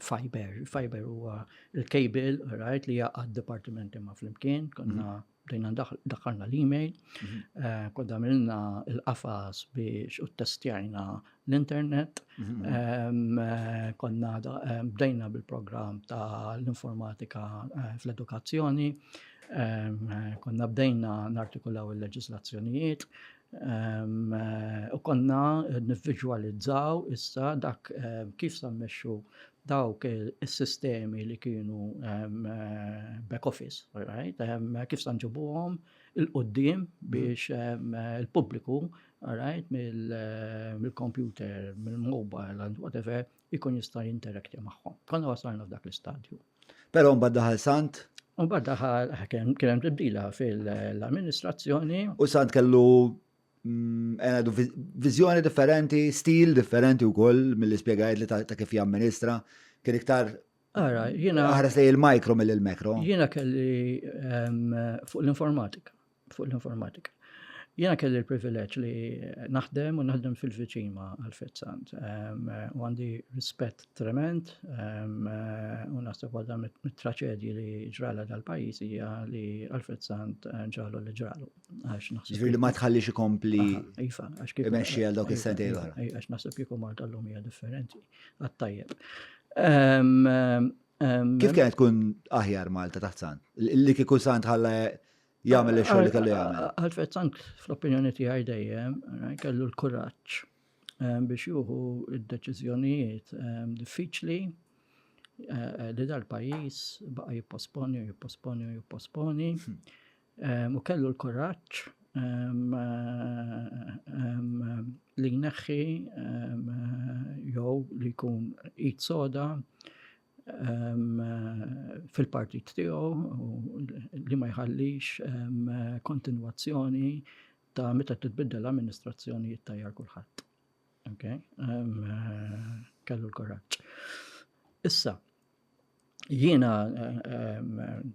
fiber, fiber huwa il-cable, right, li jaqgħad dipartimenti ma' flimkien, konna mhm. bdejna daħħalna l-email, mhm. eh, kodda milna il-qafas biex u testjajna l-internet, mhm. eh, konna eh, bdejna bil-program ta' l-informatika fl-edukazzjoni, konna bdejna nartikulaw il-leġislazzjonijiet, U konna nivviġwalizzaw issa dak kif sa mmexxu dawk is-sistemi li kienu back office, right? Kif sa nġibuhom il-qoddim biex il-pubbliku, right, mill-computer, mill-mobile, and whatever, ikun jista' jinteraktja magħhom. Konna wasalna f'dak l-istadju. Però mbagħad daħal Sant? Mbagħad daħal kien hemm tibdila fil-amministrazzjoni. U Sant kellu mm, għandu viżjoni differenti, stil differenti wkoll mill ispjegajt li ta' kif jamministra. Kien iktar Ara, jiena. Aħres li il-mikro mill-makro. Jiena kelli fuq l-informatika. fuq l-informatika. Jena kelli l-privileġġ li naħdem u naħdem fil-viċin ma' Alfred Sant. Ehm, u għandi rispett trement ehm, u naħseb għadha mit-traċedji li ġrala dal-pajis hija li Alfred Sant eh, ġralu li ġralu. Għax naħseb. Ġifieri li ma tħallix ikompli. Iva, għax kif. Imexxi għal dawk is-sentej l Għax naħseb kieku Malta l-lum hija differenti. Għattajjeb. Ehm, kif kienet tkun aħjar Malta taħt Sant? Li kieku Sant ħalla jagħmel ix-xogħol li kellu jagħmel. Alfred Sant, fl-opinjoni tiegħi dejjem, eh, kellu l-kuraġġ eh, biex juhu id-deċiżjonijiet eh, diffiċli li dal-pajjiż baqa' jipposponi u jipposponi u jipposponi hmm. u kellu l-kuraġġ li jneħħi jew li jkun id soda fil-partit tiegħu li ma jħallix kontinwazzjoni ta' meta titbiddel l-amministrazzjoni jittajjar kulħadd. Okay? Kellu l-kuraġġ. Issa, jiena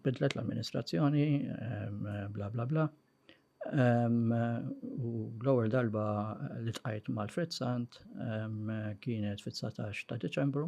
bidlet l-amministrazzjoni, bla bla bla, u l-ewwel darba li tqajt mal-Fritzant kienet fit-19 ta' Deċembru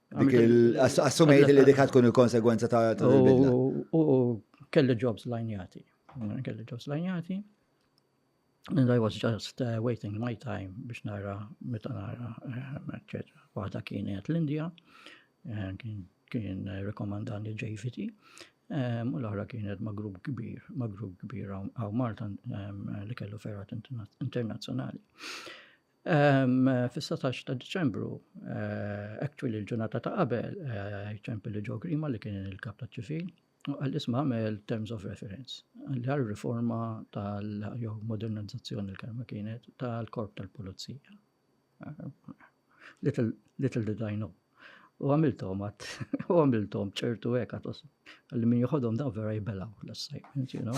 Assumejt li dik tkun il-konsegwenza ta' bidla. U kelli jobs lajnjati. Kelli jobs lajnjati. And I was just uh, waiting my time biex nara, meta nara, etc. Eh, Waħda kienet l-Indija, eh, kien rekomandani JVT, u l-oħra kienet ma' grupp kbir, ma' grupp kbir għaw Malta li kellu ferrat internazzjonali. Fis-satax ta' Diċembru, actually l-ġurnata ta' qabel, ċempi li ġo Grima li kien il-kap ta' ċivil, u għal isma għamel terms of reference, għal riforma tal-jew modernizzazzjoni l-kelma kienet tal-korp tal-pulizija. Little, little did I know. U għamiltom għat, u għamiltom ċertu għek għatos. Għalli min juħodom daw vera jibelaw l-assajment, you know.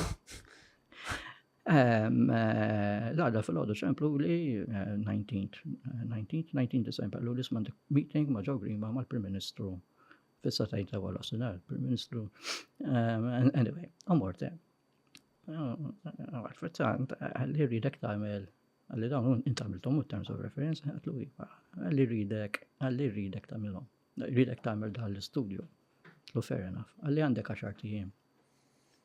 L-għada fil-għodu ċemplu li 19th, 19th, 19 December, l li smandik meeting ma' ġaw grima ma' l-Prim Ministru fissa tajt ta' għal osinar, Prim Ministru, anyway, għamorte. Għarfetzant, għalli rridek tamel, għalli dawn intamiltom u terms of reference, għatlu iva, għalli rridek, għalli rridek tamilom, rridek tamel dal-studio, l-fair enough, għalli għandek għaxar tijiem.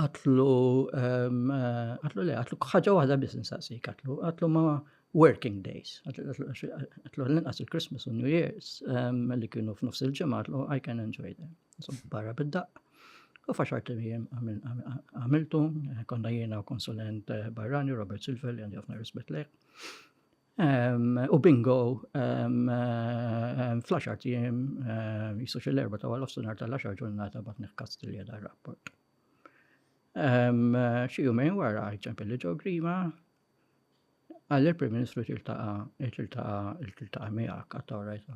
Għatlu, għatlu le, għatlu ħaġa waħda biss nsaqsik, għatlu, għatlu ma working days, għatlu l-inqas il-Christmas u New Year's li kienu f'nofs il-ġimgħa, għatlu I can enjoy them. So barra bid-daqq. U faċar tim għamiltu, konna jiena u konsulent eh, barrani, Robert Silver, li għandi għafna rispet lek. U bingo, fl-10 tiem, jisux l-erba ta' għal-ofsunar tal-10 ġurnata bat neħkast li għedha rapport. Xi jumejn wara ċempel li ġo grima, għalli l-Prim Ministru tiltaqa' tiltaqa' tiltaqa' miegħek għatta orajt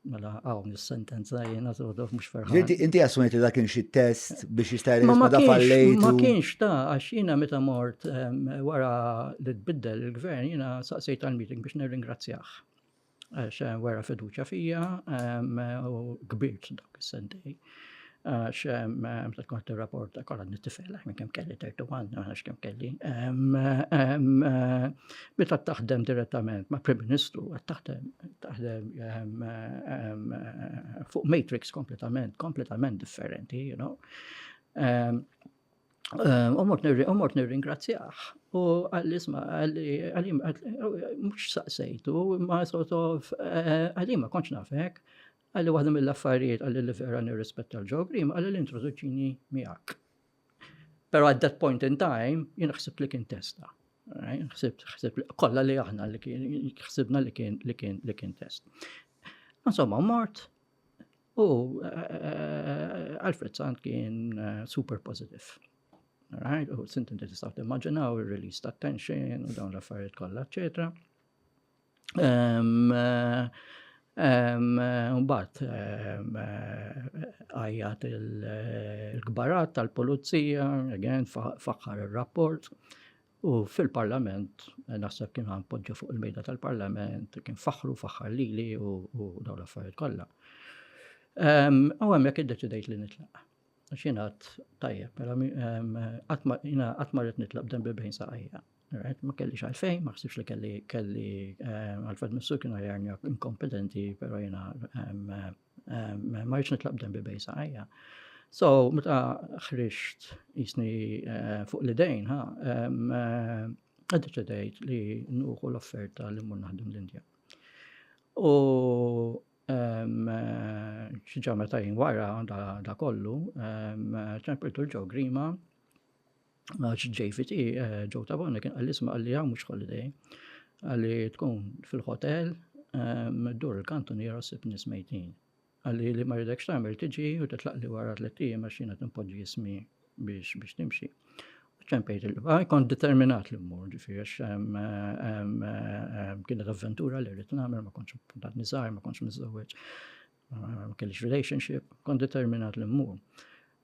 Mela, għaw, mis-sentenza jena t-għodof mux ferħan. Inti, inti għasmet li dakin xie test biex jistajr li ma fallejt. Ma kienx ta' għax jena meta mort wara li tbiddel il-gvern jena saqsejt għal-meeting biex nirringrazzjaħ. Għax wara fiduċa fija u kbirt dak is-sentej. Għax, meta tkun qed tirrapporta kollha nittifela minn kemm kelli 31, ma nafx kemm kelli. Meta taħdem direttament ma' Prim Ministru, taħdem taħdem fuq matrix kompletament, kompletament differenti, you know. Umort nirringrazzjaħ u għall-isma għallim mux saqsejtu ma sort of għallim ma konċ nafek Qal li waħda mill-affarijiet qal li vera nirrispetta l-Joe Green, qal li introduċini miegħek. Pero at that point in time, jien ħsibt li kien testa. Ħsibt, ħsibt, kolla li aħna li kien, ħsibna li kien, li kien, li kien test. Insomma, mort, u eh, Alfred Sant kien eh, super positive. Right? U sinti tistaw timmaġinaw il-release ta' tension u dawn l-affarijiet kollha, eccetera. Mbagħad għajjat il-kbarat tal-pulizija, again, faħħar ir-rapport. U fil-parlament, naħseb kien għan poġġu fuq il-mejda tal-parlament, kien faħħru, faħħar lili u dawn l-affarijiet kollha. U hemmhekk iddeċidejt li nitlaq. Xinat tajjeb, mela qatt ma rrid nitlaq b'dan bil-bejn saqajja. Right, ma kellix għalfejn, ma xsibx li kelli kelli eh, Alfred Missu kienu jarni inkompetenti, pero jena eh, eh, ma rridx nitlaq b'dembi bej saqajja. So, meta ħriġt jisni fuq l-idejn, ha, għaddeċedejt li nuħu l-offerta li mmur naħdem l-Indja. U xieġa meta jien wara da kollu, ċempiltu l-ġo grima Għax JVT, eh, Joe Tabone, kien għalli sma għalli għaw mux holiday. Għalli tkun fil-hotel, ehm, dur il-kantun jara s-sib nismejtin. Għalli li maridek xtamil tiġi u titlaq li wara t-lettijiem għax jina t-impoġi jismi biex biex timxi. ċempejt il-qba, kon determinat li mmur ġifiri għax ehm, ehm, kienet avventura li rrit namel, ma konċ puntat nizar, ma konċ mizzawieċ, ma kellix relationship, kon determinat li mmur.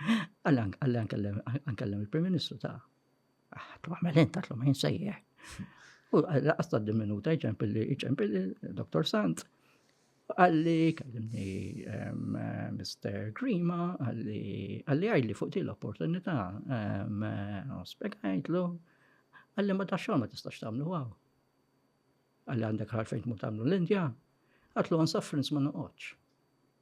Għallan, għallan, għallan, il-Prim Ministru ta' għattu għamel int, għatlu ma jinsejjer. U għas ta' minuta iċempilli, iċempilli, Dr. Sant, għalli, kallimni Mr. Grima, għalli, għalli għajli fuq di l-opportunità, spiegħajtlu, għalli ma ta' xogħol ma tistax tagħmlu għaw. Għalli għandek ħarfejn mu tagħmlu l-Indja, għatlu għan suffrins ma noqgħodx.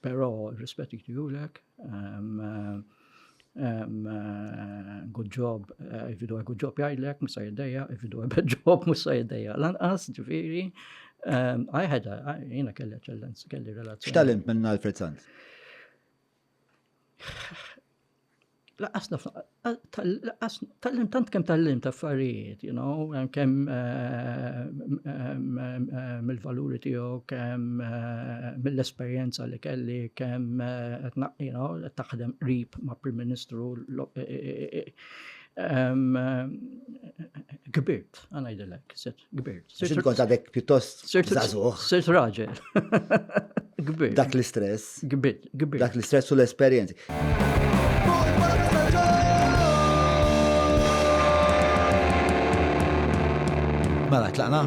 Pero rispett jgħidulek, good job, if you do a good job jgħidlek, musa jiddeja, if you do a bad job, musa jiddeja. Lanqas, ġifiri, I had a, jina kelli ċellenz, kelli relazzjoni. X'talent minn Alfred Sant? Laqqas tal-lim tant kemm tal-lim ta' affarijiet, you know, kemm mill-valuri tiegħu, kemm mill-esperjenza li kelli, kemm qed taħdem qrib ma' Prim Ministru kbirt, ħa ngħidilek. Kbir. Xint kont għadek pjuttost zazuħ. Sirt raġel. Kbir. Dak l-istress. Kbir, kbir. Dak l-istress u l-esperienzi. Mela, tlaqna?